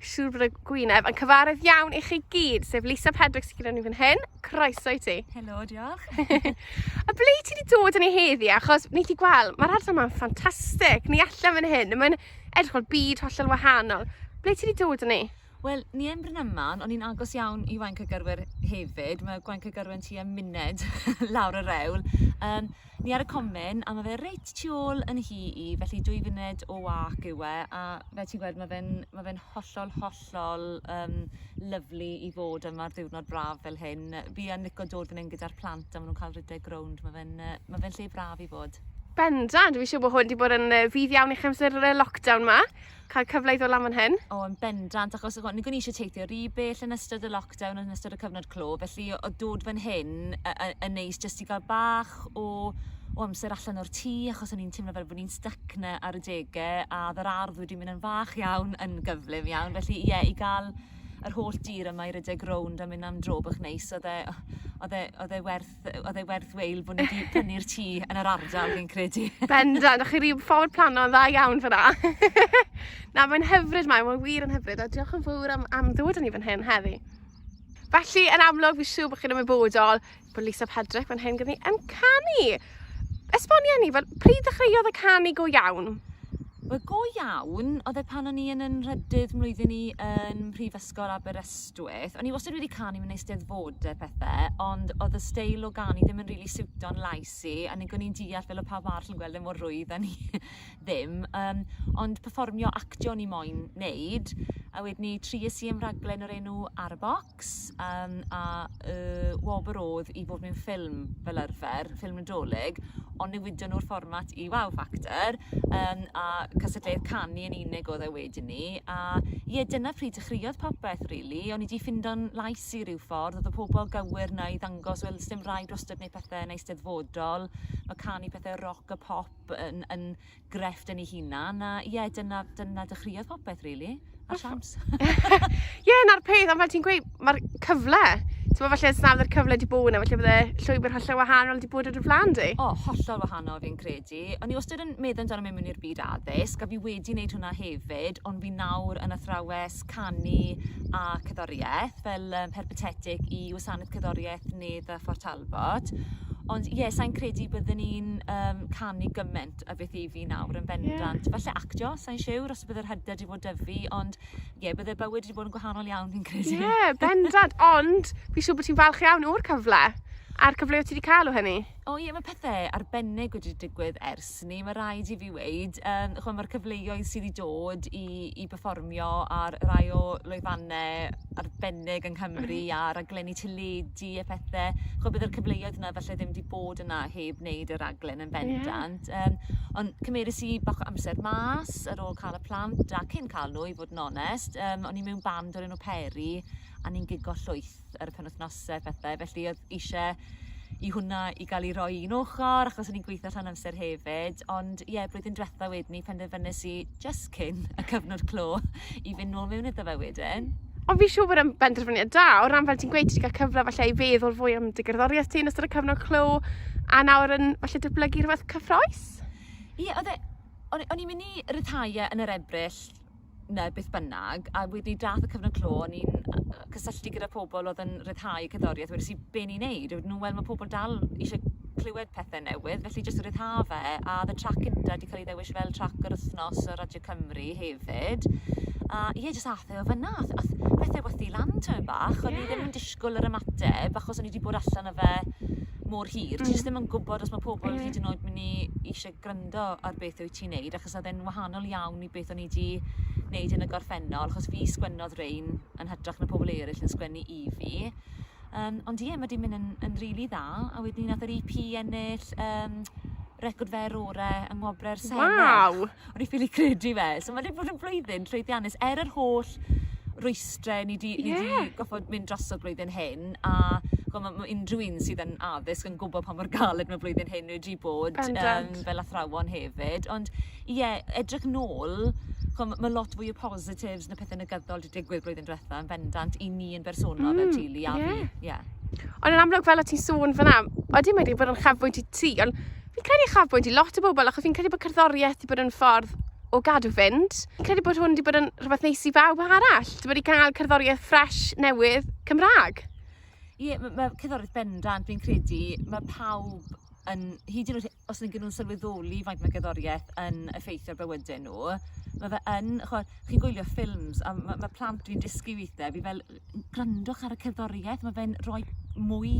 Siŵr bod y gwyneb yn cyfaredd iawn i chi gyd, sef Lisa Pedrick sy'n gyda ni fan hyn. Croeso i ti. Helo, diolch. a ble ti wedi dod yn ei heddi? Achos ni ti gweld, mae'r ardal yma'n ffantastig. Ni allan fan hyn, mae'n edrych o'r byd hollol wahanol. Ble ti wedi dod yn ei? Wel, ni yn Bryn Aman, ond ni'n agos iawn i Waunc y Gyrwyr hefyd. Mae Gwaunc y Gyrwyr yn tua munud lawr y rewl. Um, Ni ar y comin a ma' fe reit tu ôl yn nhŷ i felly dwy funed o wâc yw e a fel ti'n gweld ma' fe'n ma' fe'n hollol hollol yym lyfli i fod yma ar ddiwrnod braf fel hyn yy fi yn lico dod fyn 'yn gyda'r plant a ma' nw'n ca'l redeg rownd ma' fe'n yy ma' fe'n lle braf i fod. Bendant fi siŵr bo' hwn 'di bod yn yy fydd iawn i'ch amser yy lockdown 'ma. cael cyfle i ddod lan fan hyn? O, yn bendant, achos o'n i'n eisiau teithio rhy bell yn ystod y lockdown, yn ystod y cyfnod clo, felly o dod fan hyn yn neis jyst i gael bach o, o amser allan o'r tŷ, achos o'n i'n teimlo fel bod ni'n stuck na ar y degau, a oedd yr ardd wedi mynd yn fach iawn, yn gyflym iawn, felly ie, yeah, i gael yr holl dir yma i rydeg rownd a mynd am dro bach neis, oedd e, oedd e, oedd e werth oedd e werth weil bod ni wedi prynu'r tŷ yn yr ardal, fi'n credu. Bendant, o'ch chi rhyw ffordd plano dda iawn fyna. Na, mae'n hyfryd mae, mae'n wir yn hyfryd, a diolch yn fawr am, am ddod yn i fan hyn heddi. Felly, yn amlwg, fi siw bod chi'n ymwybodol bod Lisa Pedrick fan hyn gyda ni yn canu. Esbonia ni, fel, pryd ddechreuodd y canu go iawn? Wel go iawn oedd e pan o'n i yn 'y nhrydydd mlwyddyn i yn Mhrifysgol Aberystwyth. O'n i wastad wedi canu mewn Eisteddfode a phethe ond o'dd y steil o ganu ddim yn rili siwto'n lais i a nag o'n i'n deall fel o' pawb arall yn gweld e mor rwydd a o'n i ddim yym ond perfformio actio o'n i moyn neud a wedyn 'ny tries i am raglen o'r enw Ar y Bocs. X yym a y wobr odd i fod mewn ffilm fel arfer, ffilm Nadolig ond newidon nw'r fformat i Wow Factor yym a cystadleuaeth canu yn unig odd e wedyn 'ny a ie dyna pryd dechreuodd popeth rili o'n i 'di ffindo'n lais i ryw ffordd odd y pobol gywir 'na i ddangos wel sdim raid wastod neud pethe yn Eisteddfodol ma' canu pethe roc a pop yn yn grefft yn ei hunan, a ie, dyna, dyna dechreuodd popeth, really, ar siawns. Ie, yeah, na'r peth, ond fel ti'n gweud, mae'r cyfle, ti'n meddwl falle os nad cyfle di bod yna, falle bydde llwybr hollol wahanol di bod ar y flan di? O, oh, hollol wahanol fi'n credu. O'n i wastad yn meddwl amdano mewn i'r byd addysg, a fi wedi wneud hwnna hefyd, ond fi nawr yn athrawes canu a cyddoriaeth, fel um, perpetetic i wasanaeth cyddoriaeth Nedd a Fort Talbot. Ond ie, yeah, sa'n credu byddwn ni'n um, canu gymaint lot a beth i fi nawr yn bendant. Yeah. Falle actio, sa'n siwr os bydd yr hyder wedi bod dyfu, ond ie, yeah, bydde bywyd wedi bod yn gwahanol iawn fi'n credu. Ie, yeah, bendant, ond fi'n siŵr bod ti'n falch iawn o'r cyfle a'r cyfle o ti wedi cael o hynny. O ie, mae pethau arbennig wedi digwydd ers ni, mae rhaid i fi weid. Um, chwa, mae'r cyfleoedd sydd wedi dod i, i performio ar rai o lwyfannau arbennig yng Nghymru mm. a raglenni teledu a phethau. Chwa, bydd yr cyfleoedd yna felly ddim wedi bod yna heb wneud y raglen Yn bendant. Ie. Yym ond cymeres i bach o amser mas ar ôl ca'l y plant a cyn ca'l n'w i fod yn onest yym o'n i mewn band o'r enw Peri a ni'n gigo llwyth ar y penwthnose a phethe felly o'dd isie i hwnna i ga'l 'i roi i un ochor achos o'n i'n gweitho rhan amser hefyd ond ie blwyddyn dwetha wedyn 'ny penderfynes i jyst cyn y cyfnod clo i fynd nôl mewn iddo fe wedyn. Ond fi siŵr bod yn benderfyniad da, o ran fel ti'n gweud, ti'n cael cyfle falle i feddwl fwy am dy gerddoriaeth ti yn ystod y cyfnod clo, a nawr yn falle dyblygu rhywbeth cyffroes? Ie, yeah, oedd e... O'n, o'n i'n mynd i ryddhau yn yr ebryll na beth bynnag, a wedi dath y cyfnod clo, o'n i'n cysylltu gyda pobl oedd yn ryddhau cerddoriaeth, wedi si be ni'n neud a wedyn nhw wel ma' pobol dal ishe clywed pethe newydd felly jyst ryddhau fe a o'dd y trac cynta 'di ca'l 'i ddewis fel trac yr wthnos ar Radio Cymru hefyd a ie jyst ath e o fyn 'na a th- ath pethe wthu lan tymed bach. Ie. O'n i ddim yn dishgwl yr ymateb achos o'n i 'di bod allan â fe mor hir. Hmm. Ti jyst ddim yn gwbod os ma' pobol... Ie. ...hyd yn oed myn' i ishe grando ar beth wyt ti'n neud achos odd e'n wahanol iawn i beth o'n i 'di neud yn y gorffennol achos fi sgwennodd rein yn hytrach na pobol eryll yn sgwennu i fi. Yym ond ie ma' 'di myn' yn yn rili dda a wedyn nath yr Ee Pee ennill yym record fer ore yng ngwobre y Senedd. Waw! O'n i ffili credu fe. So ma' 'di bod yn flwyddyn llwyddiannus er yr holl rwystre ni 'di ni 'di... Ie. ...goffod mynd drosodd blwyddyn hyn a ch'mo' ma' ma' unryw un sydd yn addysg yn gwbo pa mor galed ma' blwyddyn hyn wedi bod. Bendant. Yym fel athrawon hefyd ond Ie, edrych nôl, ch'mo' ma' ma' lot fwy o positives na pethe negyddol 'di digwydd blwyddyn dwetha yn bendant i ni yn bersonol fel hmm, teulu a fi, ie. Ond yn amlwg fel o ti'n sôn fan 'na, odi mae wedi bod yn chafbwynt i ti, ond fi'n credu chafbwynt i lot o bobl, achos fi'n credu bod cerddoriaeth wedi bod yn ffordd o gadw fynd. Fi'n credu bod hwn wedi bod yn rhywbeth neis i bawb arall, wedi bod i gael cerddoriaeth ffres, newydd, Cymraeg. Ie, mae ma' cerddoriaeth bendant, fi'n credu, mae pawb yn, hyd yn oed os nag 'yn nhw'n sylweddoli faint ma' gerddorieth yn effeithio ar bywyde nw ma' fe yn ch'mo' chi'n gwylio ffilms a ma' ma' plant dwi'n dysgu withe fi fel n- grandwch ar y cerddorieth ma' fe'n roi mwy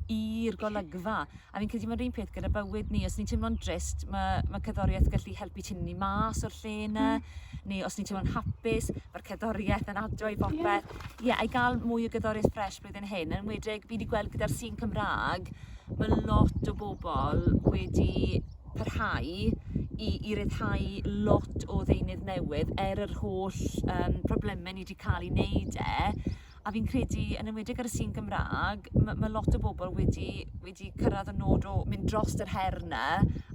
i'r golygfa a fi'n credu ma'r un peth gyda bywyd ni os ni'n timlo'n drist ma' ma' cerddorieth gallu helpu tynnu ni mas o'r lle 'na. Hmm. Neu os ni'n teimlo'n hapus ma'r cerddorieth yn adio i bopeth. Ie. Ie a i ga'l mwy o gerddorieth ffres blwyddyn hyn yn enwedig fi 'di gweld gyda'r sîn Cymra'g ma' lot o bobol wedi parhau i i ryddhau lot o ddeunydd newydd er yr holl yym probleme ni 'di ca'l i neud e a fi'n credu yn enwedig ar y sin Gymra'g ma' ma' lot o bobol wedi wedi cyrradd y nod o mynd drost yr her 'na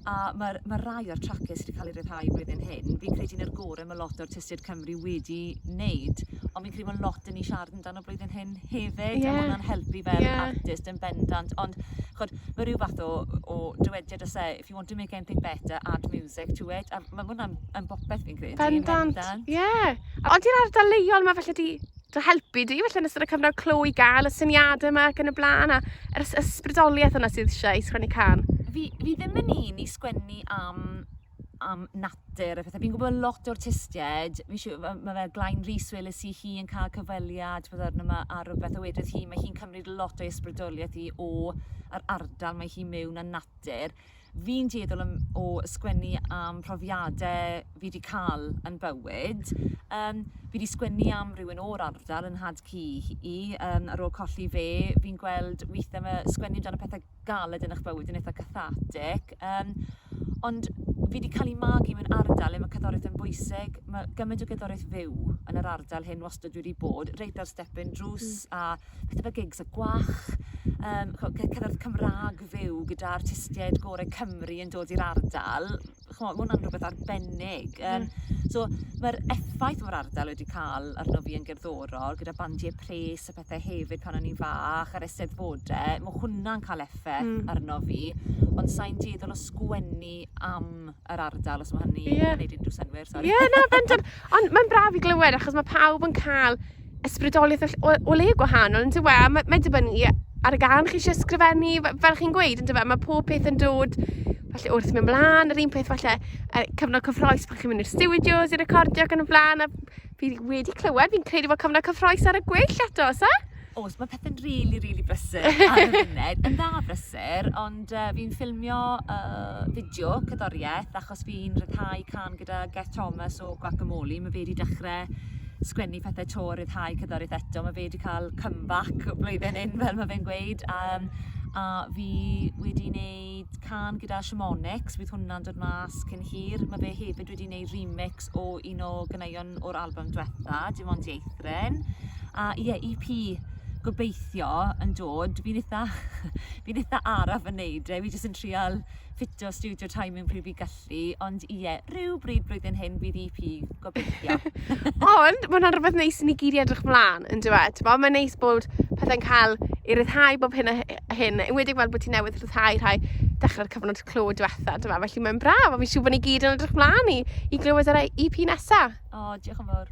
a ma'r ma' rai o'r tracie sy 'di ca'l eu ryddhau flwyddyn hyn fi'n credu yn yr gore ma' lot o artistied Cymru wedi neud on' fi'n credu ma' lot 'dyn ni siarad amdano flwyddyn hyn hefyd yeah. a ma' hwnna'n helpu fel yeah. artist yn bendant ond chod mae rhyw fath o, o dywediad os e if you want to make anything better add music to it a mae hwnna'n yn bopeth fi'n credu bendant, bendant. yeah. ond i'r ardal leol mae felly di dy helpu di felly yn ystod y cyfnod clo i gael y syniadau yma ac yn y blaen a yr ysbrydoliaeth yna sydd eisiau i sgwennu can fi, fi ddim yn un i sgwennu am am natur a phethe. Fi'n gwybod lot o artistiaid, fi'n siŵr, ma' ma' fel Glain Rees weles i hi yn cael cyfweliad ddiweddar yma ar rywbeth a wedodd hi mae hi'n cymryd lot o'i ysbrydoliaeth hi o yr ardal mae hi mewn a natur. Fi'n dueddol am, o sgwennu am profiadau fi wedi cael yn bywyd. Um, fi wedi sgwennu am rhywun o'r ardal yn nhad cu i, um, ar ôl colli fe. Fi'n gweld weithiau mae sgwennu amdano pethau galed yn eich bywyd yn eitha' cathartic yym ond fi 'di cael 'i magu mewn ardal le ma' cerddoriaeth yn bwysig, ma' gymaint o gerddoriaeth fyw yn yr ardal hyn wastad wedi bod reit ar step un drws... Mm. ...a pethe fel gigs y Gwach yym ch'o' ce- cerddoriaeth Cymra'g fyw gyda artistiaid gore Cymru yn dod i'r ardal. ch'mo' ma' wnna'n rwbeth arbennig yym... Hmm. ...so ma'r effaith ma'r ardal wedi ca'l arno fi yn gerddorol gyda bandie pres a pethe hefyd pan o'n i'n fach a'r Eisteddfode ma' hwnna'n ca'l effe... Hmm. ...arno fi ond sai'n dueddol o sgwennu am yr ardal os ma' hynny... Ie. ...yn neud unryw synnwyr sori. Ie na bendant ond ma'n braf i glywed achos ma' pawb yn ca'l ysbrydoliaeth o ll- o o le gwahanol yndyw e? A ma' mae'n dibynnu ar y gân chi isie ysgrifennu f- fel chi'n gweud yndyfe ma' pob peth yn dod falle wrth myn' mlan yr un peth falle yy cyfnod cyffrous pan chi'n mynd i'r stiwdios i recordio ac yn y flan a fi wedi clywed fi'n credu fod cyfnod cyffrous ar y gweill eto o's e? O's ma' pethe'n rili rili brysur ar y funud yn dda brysur ond yy fi'n ffilmio yy fideo cerddorieth a Os fi'n rhyddhau cân gyda Geth Thomas o Guacamole ma' fe 'di dechre sgwennu pethe 'to a ryddhau cerddorieth eto ma' fe 'di ca'l come back blwyddyn 'yn fel ma' fe'n gweud a yym a fi wedi neud cân gyda Shamonix fydd hwnna'n dod mas cyn hir ma' fe hefyd wedi neud remix o un o ganeuon o'r albym dwetha Dim Ond Dieithryn a ie Ee Pee gobeithio yn dod fi'n itha fi'n itha araf yn neud e fi jyst yn trial ffitio studio time yn pryd fi'n gallu, ond ie, yeah, rhyw bryd blwyddyn hyn fydd EP, gobeithio. ond mae hwnna'n rhywbeth neis i ni gyd i edrych mlaen, yn dweud. Ti'n Mae'n neis bod pethau'n cael ei ryddhau bob hyn a hyn, yn wedi gweld bod ti newydd ryddhau rhai dechrau'r cyfnod clo diwetha, dyma, felly mae'n braf, a fi'n siŵr bod ni gyd yn edrych mlaen i, i glywed yr EP nesaf. O, oh, diolch yn fawr.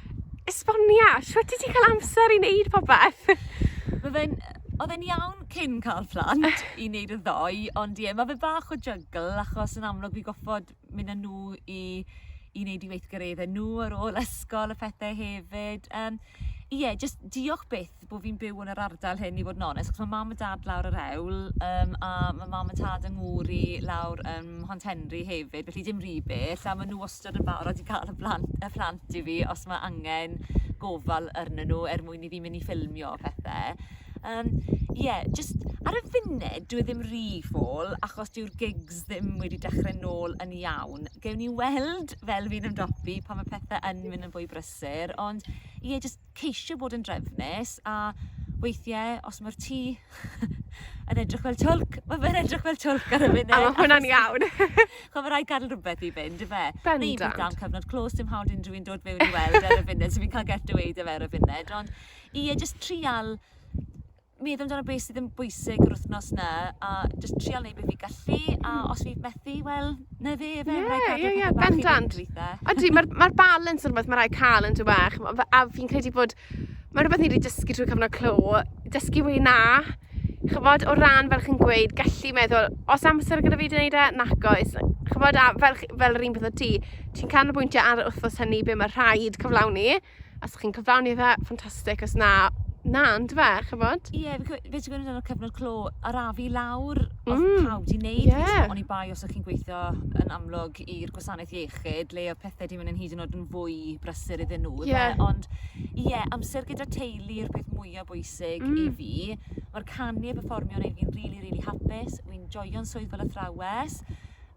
Esbonia, shwt ti 'di cael amser i wneud popeth? Mae fe'n... Oedd e'n iawn cyn cael plant i wneud y ddoe, ond ie, mae fe bach o jygl achos yn amlwg fi'n gorfod mynd â nhw i i wneud i weithgareddau nhw ar ôl ysgol a phethau hefyd. Yym ie, jyst diolch byth bo' fi'n byw yn yr ardal hyn i fod yn onest 'chos ma' mam a dad lawr yr hewl yym a ma' mam a tad yng ngŵr i lawr yn Mhont Henri hefyd felly dim ry bell a ma' n'w wastod yn barod i ca'l y blant y plant i fi os ma' angen gofal arnyn n'w er mwyn i fi myn' i ffilmio a phethe. Yym ie jyst ar y funud dyw e ddim ry fall achos dyw'r gigs ddim wedi dechre nôl yn iawn gewn ni weld fel fi'n ymdopi pan ma' pethe yn myn' yn fwy brysur ond ie jyst ceisio bod yn drefnus a weithiau os mae'r tŷ yn edrych fel twlc, mae fe'n edrych fel twlc ar y funud. A mae hwnna'n iawn. Chwa, mae rhaid gadw rhywbeth i fynd, y fe? Bendant. Neu bydd dan cyfnod clos dim hawdd unrhyw un dod fewn i weld e ar y funud, so fi'n cael get away da fe ar y funud. Ond ie, jyst trial meddwl amdano beth sydd yn bwysig yr wthnos 'na a jyst trial neud be' fi gallu a os fi methu wel 'na fe yfe... Ie ie ie. ...pethe bach i fynd gweitha. Ydi ma'r ma'r balans yn rwbeth ma' rai' ca'l yndyw e ch'mo' fe- a fi'n credu bod ma' rwbeth ni 'di dysgu trwy cyfnod clo dysgu weud na ch'mod o ran fel chi'n gweud gallu meddwl o's amser gyda fi 'di neud e nac oes yy ch'mod a fel chi fel yr un peth â ti ti'n canolbwyntio ar yr wthnos hynny be' ma' rhaid cyflawni Os chi'n cyflawni fe, ffantastig, os na, na, ond fe, chybod? Ie, yeah, fe ti'n gwneud yn y cyfnod clo, arafu lawr, mm. oedd pawb di wneud, yeah. ond i bai os ych chi'n gweithio yn amlwg i'r gwasanaeth iechyd, le oedd pethau di mynd yn hyd yn oed yn fwy brysur iddyn nhw, yeah. Fe, ond ie, yeah, amser gyda teulu yw'r peth mwyaf bwysig mm. i fi. Mae'r canu a performio yn ei fi'n rili, really, rili really hapus, wi'n joio'n swydd fel athrawes,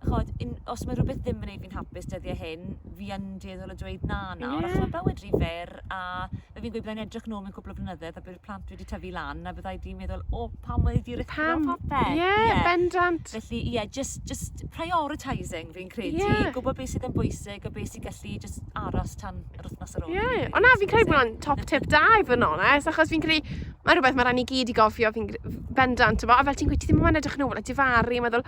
ch'od un- os ma' rwbeth ddim yn neud fi'n hapus dyddie hyn fi yn dueddol o dweud na nawr... Ie. ...achos ma' bywyd rhy fyr a fel fi'n gweud byddai'n edrych nôl mewn cwpwl o flynyddoedd a bydd plant wedi tyfu lan a fyddai di meddwl o pam oedd 'di rico popeth. Ie ie bendant. Felly ie jyst jyst prioritising fi'n credu. Ie. Gwbo be' sydd yn bwysig a be' sy gallu jyst aros tan yr wythnos ar ôl Ie, New ond na Year's fi'n credu bod Eve, hwnna'n top tip da i fod yn onest achos fi'n credu mae rhywbeth mae rai ni gyd i gofio fi'n gre- f- bendant t'mo' a fel ti'n gweud ti ddim moyn edrych yn ôl a difaru a meddwl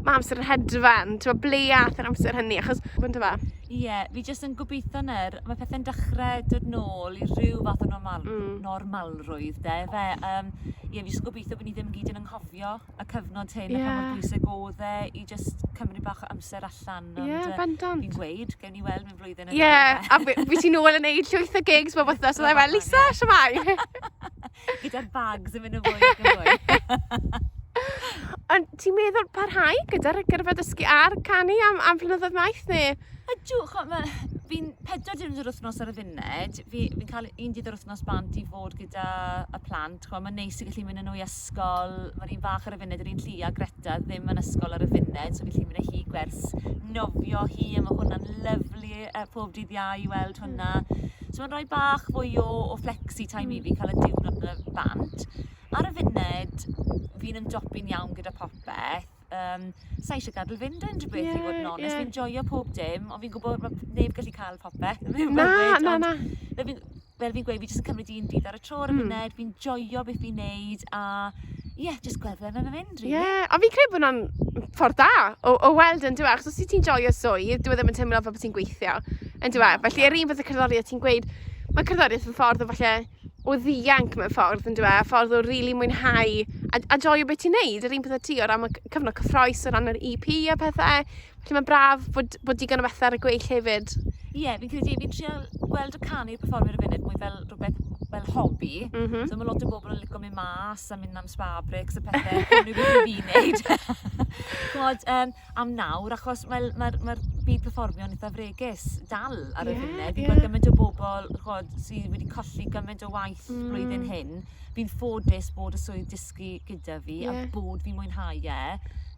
ma' amser yn hedfan t'mo' ble ath yr amser hynny achos on'd yfe? Ie, fi jyst yn gobeithio nawr, mae pethe'n dechre dod nôl i ryw fath o normal- normalrwydd 'de ife? Yym ie fi jyst yn gobeithio bo' ni ddim gyd yn anghofio y cyfnod hyn yeah. a pa mor bwysig oedd e i just cymryd bach o amser allan. Ond, yeah, bendant. Fi'n gweud, gewn ni weld mewn flwyddyn yn Ie, yeah, a fi ti'n ôl yn neud llwyth o gigs bob wythnos, oedd e fel, Lisa, siamai! Gyda'r bags yn mynd yn fwy ac yn fwy. Ond ti'n meddwl parhau gyda'r gyrfa dysgu a'r canu am, am flynyddoedd maith neu? Ydw, fi'n pedwar diwrnod yr wythnos ar y funud, fi'n fi cael un dydd yr wythnos bant i fod gyda y plant T'bo' ma'n neis i gallu mynd â n'w i ysgol. Ma'r un fach ar y funud yr un llu a Greta ddim yn ysgol ar y funud so gallu mynd â hi i gwers nofio hi a ma' hwnna'n lyfli yy pob dydd Iau i weld hwnna. So ma'n roi bach fwy o o flexi time i fi ca'l y diwrnod 'na bant. Ar y funud fi'n ymdopi'n iawn gyda popeth. yym sai isie gadel fynd yn dwi byth i fod yn onest fi'n joio pob dim ond fi'n gwybod bod neb gallu cael popeth Na, na, na. fel fi'n fel fi'n gweud fi jyst yn cymryd un dydd ar y tro ar y hmm. funud fi'n joio beth fi'n neud a ie yeah, jyst gweld ble mae'n mynd rili. Ie, a fi'n credu bod hwnna'n ffordd da o, o weld yn dweud, achos os ti'n joio swydd, dwi e ddim yn teimlo fel bod ti'n gweithio yn dweud. Felly, yr un fath y cerddoriaeth ti'n gweud, mae cerddoriaeth yn ffordd o falle o ddianc mewn ffordd yndyw e? Ffordd o rili really mwynhau a, a joio beth ti'n neud, yr un peth â ti o ran y cyfnod cyffroes, o ran yr EP a pethau. Felly mae'n braf bod, bod digon o bethau ar y gweill hefyd. Ie, yeah, fi'n credu, fi'n trio gweld y canu i'r performer y funud mwy fel rhywbeth fel hobi. Mm -hmm. So mae lot o bobl yn licio mynd mas a mynd am spa breaks a pethau. Cymru beth i fi wneud. Gwod, um, am nawr achos wel ma'r ma'r byd perfformio'n itha fregus dal ar y funud... Ie ie. ...fi'n gwel' gyment o bobol ch'od sy wedi colli gyment o waith... Hmm. ...blwyddyn hyn fi'n ffodus bod y swydd dysgu gyda fi... Ie. ...a bod fi'n mwynhau e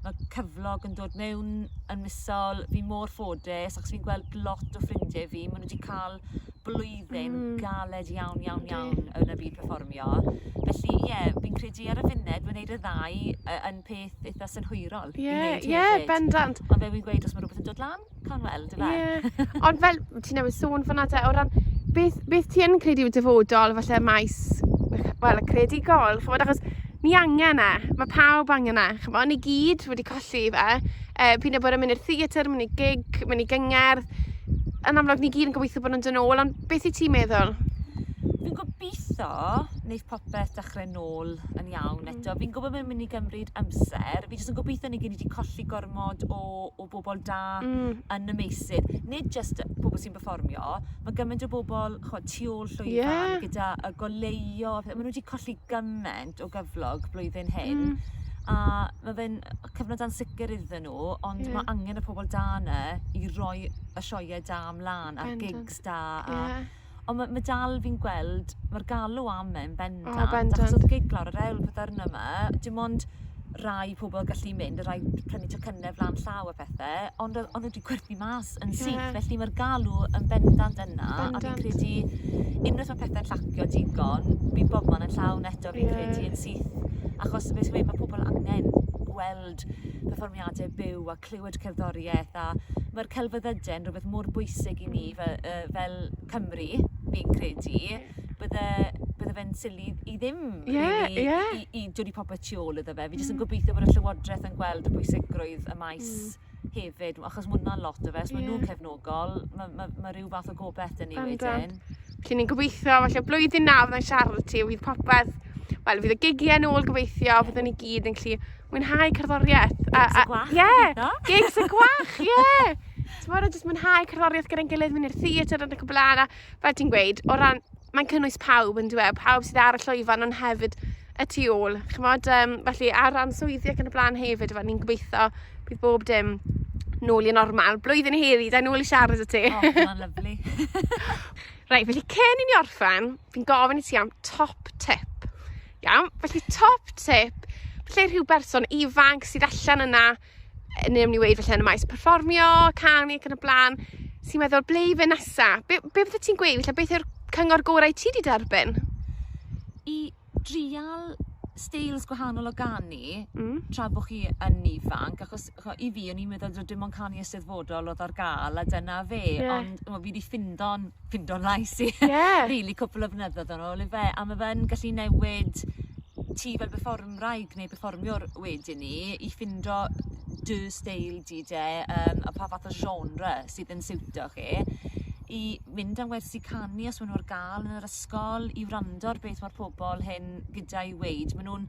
ma' cyflog yn dod mewn yn misol fi mor ffodus achos fi'n gweld lot o ffrindie fi ma' n'w 'di ca'l blwyddyn... Mm. ...galed iawn iawn iawn... Yndi. ...yn y byd perfformio felly ie fi'n credu ar y funud ma' neud y ddau yy yn peth eitha synhwyrol... Ie. ...i neud hefyd. Ie bendant. Ond fel fi'n gweud os ma' rwbeth yn dod lan cawn weld yfe? Ie ond fel ti newydd sôn fyn 'na 'te o ran beth beth ti yn credu yw dyfodol falle maes wel y creadigol ch'mod achos ni angen e ma' pawb angen e ch'mo' ni gyd wedi colli fe e, pryd y bore mynd i'r theatr, mynd i gig, mynd i gyngerdd. Yn amlwg, ni gyd yn gobeithio bod nhw'n dyn ôl, ond beth i ti'n meddwl? Fi'n gobeithio wneud popeth dechrau nôl yn iawn mm. eto. Fi'n gwybod mae'n mynd i gymryd amser. Fi jyst yn gobeithio ni gyd wedi colli gormod o, o bobl da mm. yn y meysydd. Nid jyst pobl sy'n performio, mae gymaint o bobl chod, tu ôl llwyfan yeah. gyda y goleio. Maen nhw wedi colli gymaint o gyflog blwyddyn hyn. Mm. A mae fe'n, cyfnod ansicr iddyn nhw ond... Ie. ...ma' angen y pobol da 'na i roi y sioe da mlan a'r... Bendant. ...gigs da a... Ie. ...on' ma' ma' dal fi'n gweld ma'r galw am e yn bendant. O bendant. Achos odd gig lawr yr ewl pythefno 'ma dim ond rai pobol gallu mynd a rai prynu tocynne flan llaw a pethe ond o- o'n n'w 'di gwerthu mas lot yn syth. Yeah. Felly mae'r galw yn bendant yna. Bendant. A fi'n credu, unwaith mae pethau'n llacio digon, bydd bob man yn llawn eto fi'n yeah. credu yn syth. Achos beth sy'n mae pobl angen gweld perfformiadau byw a clywed cerddoriaeth a mae'r celfyddydau'n rhywbeth mor bwysig i ni mm. fel, uh, fel Cymru, fi'n credu. Yeah bydde, bydde fe'n sili i ddim yeah, really, yeah. i, i, i dod i popeth tu ôl iddo fe. Fi jyst yn mm. gobeithio bod y Llywodraeth yn gweld y bwysigrwydd y maes mm. hefyd achos ma' wnna'n lot o fe os ma' nhw'n cefnogol ma' ma' ma' ryw fath o gobeth 'da ni wedyn. Felly ni'n gobeithio falle blwyddyn na fyddai'n siarad â ti a fydd popeth wel fydd y gigie nôl gobeithio fyddwn ni gyd yn gallu mwynhau cerddorieth a a ie gigs y gwach ie t'mod a jyst mwynhau cerddorieth gyda'n gilydd myn' i'r theatr yn y cwbwl fel ti'n gweud o ran mae'n cynnwys pawb on'd yw e pawb sydd ar y llwyfan on' hefyd y tu ôl, ch'mod yym felly ar ran swyddi ac yn y bla'n hefyd fel ni'n gobeitho bydd bob dim nôl i normal. Blwyddyn heddi, da nôl i siarad y ti. O, oh, mae'n lyflu. Reit, felly cyn i ni orffen, fi'n gofyn i ti am top tip. Iawn, felly top tip, lle rhyw berson ifanc sydd allan yna neu am ni weud felly yn y maes perfformio, canu ac yn y blaen, sy'n meddwl, ble i fy nesa? Be, be fydde ti'n gweud? Felly, beth yw'r cyngor gorau ti wedi derbyn? I drial styles gwahanol o ganu mm. tra bod chi yn ifanc, achos cho, i fi o'n i'n meddwl dod dim ond canu eisteddfodol oedd ar gael a dyna fe, yeah. ond fi wedi ffindo'n ffindo lais i. Ie. Rili cwpwl o flynyddodd yn ôl yfe a ma' fe'n gallu newid ti fel berfformwraig neu perfformiwr wedyn 'ny i ffindo dy steil di 'de yym a pa fath o genre sydd yn siwtio chi i mynd am wersi canu os ma' nw ar ga'l yn yr ysgol i wrando ar beth ma'r pobol hŷn gyda i weud ma' nw'n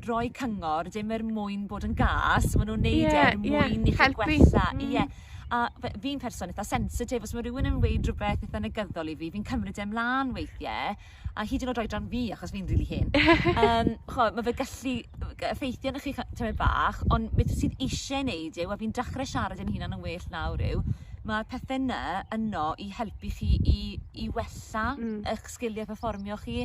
roi cyngor dim er mwyn bod yn gas ma' nw'n neud e... Ie ie. ...er mwyn i chi... Helpu. ...gwella. Hmm. Ie. A fe- fi'n person itha sensitif os ma' rywun yn weud rwbeth itha negyddol i fi fi'n cymryd e mlan weithie a hyd yn o'd oedran fi achos fi'n rili hen. Yym ch'mo' ma' fe gallu yy g- effeithio arnoch chi cy- tymed bach on' beth sydd isie neud yw a fi'n dachre siarad yn hunan yn well nawr yw ma' pethe 'ny yno i helpu chi i i wella... Hmm. ...ych sgilie perfformio chi.